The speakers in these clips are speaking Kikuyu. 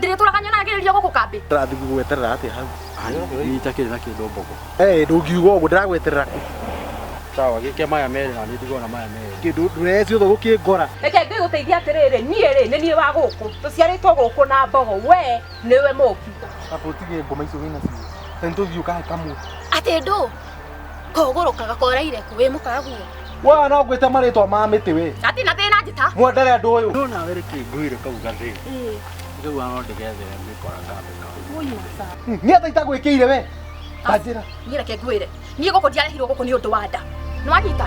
ndĩrĩtũra kanyona agĩrĩria gũkũ kambĩ Ndĩrathiĩ gũgweterera atĩa hau? Niĩ itakĩrĩ na kĩndũ mboko. Eh, ndũngiuga ũguo ndĩragweterera kũ? Sawa, gĩke maya merĩ na niĩ ndigona maya merĩ. Kĩndũ ndũreci ũthũ gũkĩngora. reke ngĩgũteithie atĩrĩrĩ niĩ rĩ nĩ niĩ wa gũkũ tũciarĩtwo gũkũ na mbogo we nĩwe mũũki Aba ũtige ngoma icio wĩnacio. Na nĩtũthiĩ ũkahe kamwe. atĩ ndũ kogũrũkaga koraire kũ wĩ mũkaragu wa no ngwĩte marĩtwa ma mĩtĩ we ati na thĩna njĩta mwendere andũ ũyũ no nawe reke ngwĩre kau gathĩ rĩu ano ndĩgethere mĩkora kambĩ nao niĩ ta itagwĩkĩire we tanjĩra niĩ reke ngwĩre niĩ gũkũ ndiarehirwo gũkũ nĩ ũndũ wa nda nĩwanyita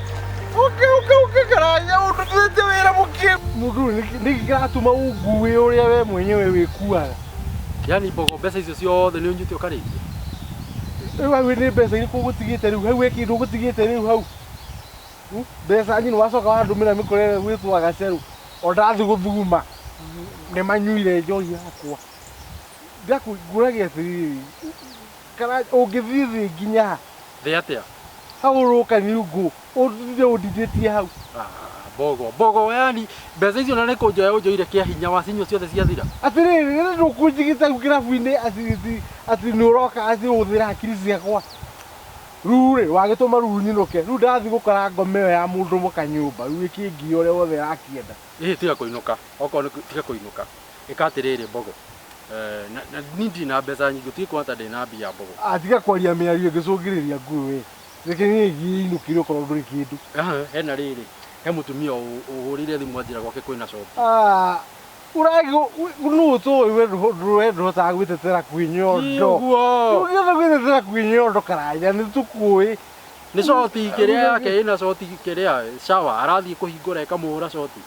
Ũkĩ ũkĩ ũkĩ karaya ũndũ twenje wĩra mũkĩ. Mũndũ ũyũ nĩkĩ- nĩkĩ kĩratũma ũnguĩ ũrĩa we mwenyewe wĩkuaga. Yaani mbogo mbeca icio ciothe nĩ ũnyite ũkarĩithia. Rĩu hau nĩ mbeca irĩkũ ũgũtigĩte rĩu hau he kĩndũ ũgũtigĩte rĩu hau Hmm? mbeca nyinĩ wacoka wandũmĩra mĩkore gwĩtwa gacerũ o ndathiĩ gũthuguma nĩ manyuire njohi yakwa ngũragia atĩrĩrĩ Kana ũngĩthiĩ thĩ nginya ha? Thĩ atĩa? Hau ũroka nyungu, ũtinde ũndindĩtie hau. Ah, Mbogo, mbogo yani mbeca icio na nĩ kũnjoya ũnjoire kĩa hinya wacinyua ciothe ciathira. Atĩrĩrĩ, rĩrĩa ndũkũnjigĩte hau kĩrabu-inĩ atĩ atĩ atĩ nĩ ũroka atĩ ũhũthĩra hakiri ciakwa. Rĩu rĩ, wagĩtũma rĩu nyinũke. Rĩu ndathiĩ gũkora ngoma ĩyo ya mũndũ mũka nyũmba, rĩu ĩkĩngiĩ ũrĩa wothe ĩrakĩenda. Ĩhĩ tiga kũinũka, okorwo nĩ kũ- tiga kũinũka. Ĩka atĩrĩrĩ mbogo, Niĩ ndirĩ na mbeca nyingĩ, ũtige kuona ta ndĩ na mbia mbogo. Tiga kwaria mĩario ĩngĩcũngĩrĩria ngũĩ wee. Reke ngĩthiĩ inũkĩre okorwo ndũrĩ kĩndũ. Hena rĩrĩ, he mũtumia ũhũrĩire thimũ anjĩra gwake kwĩna coki. Ũragwo nũũ ũtũĩ we ndũhotaga gwĩtetera kwĩ nyondo. Ndũngĩhota gwĩtetera kwĩ nyondo karanja nĩ tũkũĩ. Nĩ coti kĩrĩa yake ĩna coti kĩrĩa shower arathiĩ kũhingũra ĩkamũhũra coti.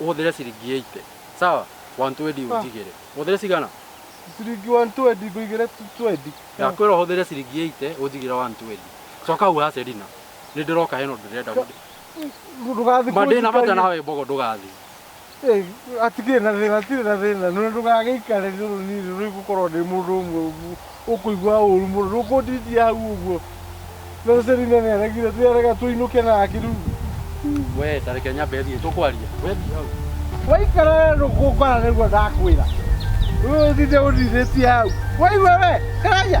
ũhũthĩre ciringi 80 sawa 120 ũnjigĩre ũhũthĩre cigana ciringi 120 ngũigĩre 20 ndakwĩra ũhũthĩre ciringi 80 ũnjigĩre 120 coka hau ha Selina nĩ ndĩroka hena ũndũ ndĩrenda gũthiĩ ndũgathiĩ mandĩna mata nawe mbogo ndũgathiĩ Ĩĩ, hatikĩrĩ na thĩna hatirĩ na thĩna no ndũgagĩikare rũrũ niĩ rũrĩ gũkorwo ndĩ mũndũ ũmwe ũguo Ũkũigua ũũru mũno, ndũkũnditia hau ũguo. Rĩu Selina nĩ aregire, nĩ arega tũinũke nake rĩu. We, ta reke nyambe thiĩ, tũkwaria. We thiĩ hau. Waikara we ndũkũngora nĩguo ndakwĩra. Rĩu ũthinde ũndithĩtie hau. Waigua we, karaia.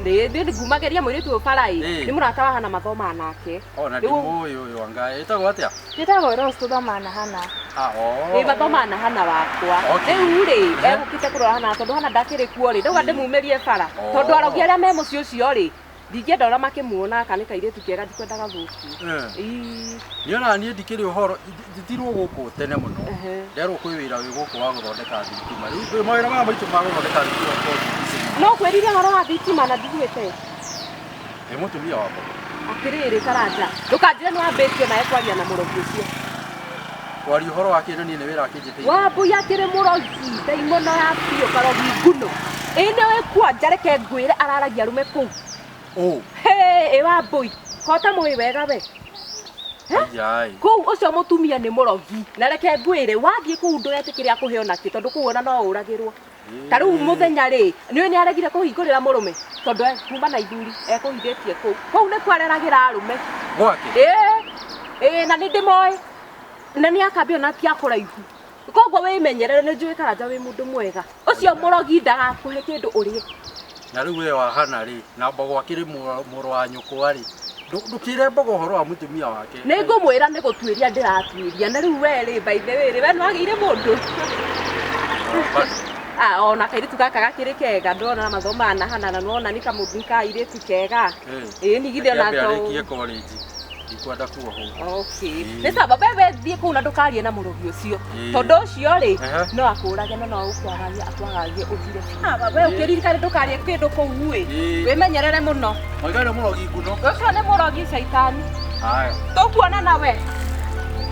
Nĩ nĩ ngumageria mũirĩtu ũyũ bara ĩ. Eh. Nĩ mũrata wa Hana mathomaga nake. O na ndimũũĩ ũyũ anga ĩtagwo atĩa? Njĩtagwo Rose tũthomaga na Hana. Ah, oo. Ĩ mathomaga na Hana wakwa. Okay. Rĩu rĩ Eh. egũkĩte kũrora Hana tondũ Hana ndakĩrĩ kuo rĩ ndauga ndĩmumĩrie bara. Oo. Tondũ arogi arĩa me mũciĩ ũcio rĩ ndingĩenda ũrĩa makĩmuona kana nĩ kairĩtu kega ndikwenda gathũkio. Eh. Ii. Niĩ ona niĩ ndikĩrĩ ũhoro. Njitirwo gũkũ tene mũno nderwo kwĩ wĩra wĩ gũkũ wa gũthondeka thitima rĩu ndĩ mawĩra maya maitũ ma gũthondeka thitima to BBC no kwĩrire horo wa thitima na ndiguĩte nĩ mũtumia wa mũndũ atĩrĩrĩ karanja ndũkanjĩre nĩ wambĩtie naye kwaria na mũrogi ũcio kwaria ũhoro wa kĩndũ niĩ nĩ wĩra akĩnjĩtĩire wambui akĩrĩ mũrogi ndaimono ya biũ karogi nguno ĩnĩ wĩkuo njareke ngwĩre araragia arũme kũu Ũ. Hey, ĩwa mbũi kota mũĩ wega we Yai. kũu ũcio mũtumia nĩ mũrogi na reke ngwĩre wathiĩ kũu ndũgetĩkĩre akũhe ona kĩ tondũ kũu ona no ũragĩrwo ta rĩu mũthenya rĩ nĩũĩ nĩ aregire kũhingũrĩra mũrũme tondũ e- kuma na ithuri ekũhithĩtie kũu kũu nĩ kwareragĩra arũme Gwake. Ĩĩ, ĩĩ, na nĩ ndĩmoĩ na nĩ akambia ona ti akũraihu koguo wĩmenyerere nĩ njũĩ karanja wĩ mũndũ mwega ũcio mũrogi ndagakũhe kĩndũ ũrĩe na rĩu we wahana rĩ na mbogo akĩrĩ mũrũ mũrũ wa nyũkwa rĩ ndũ- ndũkĩre mbogo ũhoro wa mũtumia wake nĩ ngũmwĩra nĩ gũtuĩria ndĩratuĩria na rĩu we rĩ by the way rĩ we nĩ wagĩire mũndũ Ah, ona kairĩtu gaka gakĩrĩ kega ndona mathomaga na hana na nona nĩ kamũndũ nĩ kairĩtu kega Eh, ĩĩ nigithio na reke ambe to arĩkie college. ndikwenda kuo huu Okay. Mm. Nĩ sawa wewe thiĩ kũu na ndũkarie na mũrũgi ũcio Mm. tondũ ũcio rĩ Aha. no akũrage no no ũkwagagie akwagagie ũthire biũ. Wewe ũkĩririkane ndũkarie kĩndũ kũu ĩ Ĩĩ. wĩmenyerere mũno maiga nĩ mũrogi nguno ũcio nĩ mũrogi caitani haya tũkuona nawe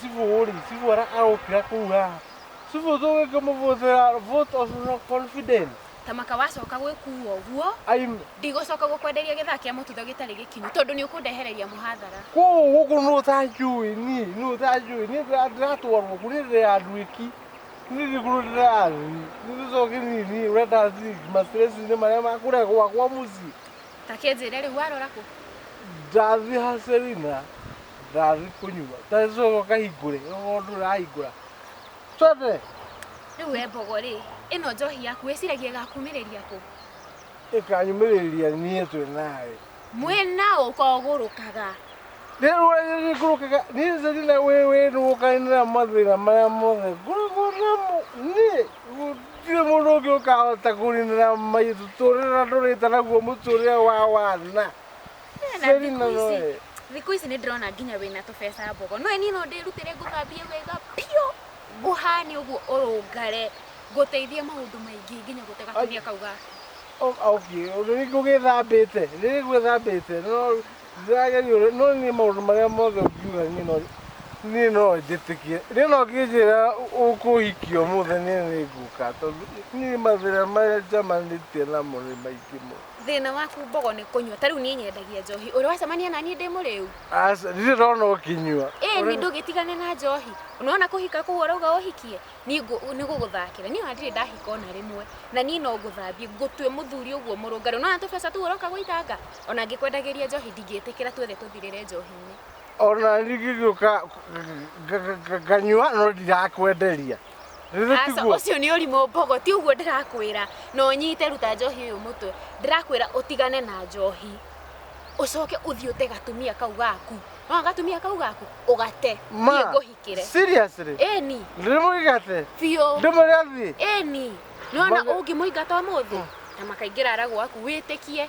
Sivori, sivora aropira kuga. Sivozoge kamuvozera vote of no confidence. tamaka wacoka gwĩkua ũguo I'm ndigũcoka gũkwenderia gĩthaa kĩa mũtutho gĩtarĩ gĩkinyu tondũ nĩ ũkũndehereria mũhathara kũu gũkũ nũ tanjũĩ niĩ nũ tanjũĩ niĩ ndĩra- ndĩratwarwo kũ niĩ ndĩ ya andũ ĩki niĩ ndĩ kũrũ ndĩrathiĩ niĩ tũcoke niĩ niĩ ũrenda thiĩ mastresi-inĩ marĩa makũrĩa gwakwa mũciĩ ta kĩnjĩre rĩu warora kũ ndathi ha Selina ndathi kũnyua tacoka kahingũre okorwo ndũrahingũra twende rĩu we mbogo rĩ ĩno njohi yaku wĩciragia gakumĩrĩria kũ ĩkanyumĩrĩria niĩ twĩ nawe mwĩ na ũkogũrũkaga nĩrũragĩgũrũkaga niĩ Selina wĩ wĩ nũgũkanĩra mathĩna marĩa mothe ngoragwo namo niĩ gũtirĩ mũndũ ũngĩ ũkahota kũninana mũtũrĩra ndũrĩte naguo mũtũrĩra wa wana Na Seri na thikũ ici- noe. thikũ ici nĩ ndĩrona nginya wĩna tũbeca mbogo no niĩ no ndĩrutĩre ngũthambie wega biũ ngũhane ũguo ũrũngare ngũteithie maũndũ maingĩ nginya gũte gatumia kau gaku O- okay rĩrĩ ngũgĩthambĩte rĩrĩ gwĩthambĩte no Ndĩragerio rĩ, no niĩ maũndũ marĩa mothe ũngiuga niĩ no niĩ no njĩtĩkie. Rĩu no ũkĩnjĩra ũkũhikio mũthĩ niĩ nĩ ngũka tondũ niĩ mathĩna marĩa njamanĩtie namo nĩ maingĩ mũno. Thĩna waku mbogo nĩ kũnyua. Ta rĩu niĩ nyendagia njohi. Ũrĩ wacemania na niĩ ndĩ mũrĩu? Aca, ndirĩ ndona ũkĩnyua. Ĩĩ nĩ ndũgĩtigane na njohi. Nĩwona kũhika kũu ũrauga ũhikie? Niĩ nĩ gũgũthakĩra. Niĩ ona ndirĩ ndahika ona rĩmwe. Na niĩ no ngũthambie, ngũtue mũthuri ũguo mũrũngarũ. Nĩwona tũbeca tũu ũroka gũitanga? Ona angĩkwendagĩria njohi ndingĩtĩkĩra tuothe tũthirĩre njohi-inĩ. Ona ndingĩgĩũka nganyua no ndirakwenderia. Aca ũcio nĩ ũrimũ mbogo ti ũguo ndĩrakwĩra na ũnyite ruta njohi ũyũ mũtwe ndĩrakwĩra ũtigane na njohi ũcoke ũthiĩ ũte gatumia kau gaku no gatumia kau gaku ũgate niĩ ngũhikĩre seriously ĩni ndĩmũigate biũ ndĩmũrĩa thiĩ ĩni nona ũngĩmũingata ũmũthĩ na makaingĩra ara gwaku wĩtĩkie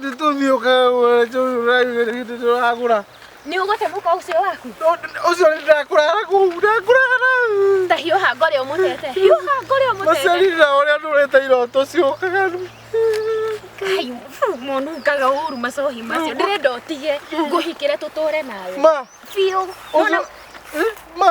nĩtũthiũka tũragũra nĩ ũgũte mũka ũcio waku ũcio ndakũrara kũu ndakũrara ta hiũha ngore ũmũtete hiũha ngore ũmũtete macerira ũrĩa ndũrĩte iroto ciũkaga kai monungaga ũru macohi macio ndĩrenda ũtige ngũhikĩre tũtũre nawe ma biũ ma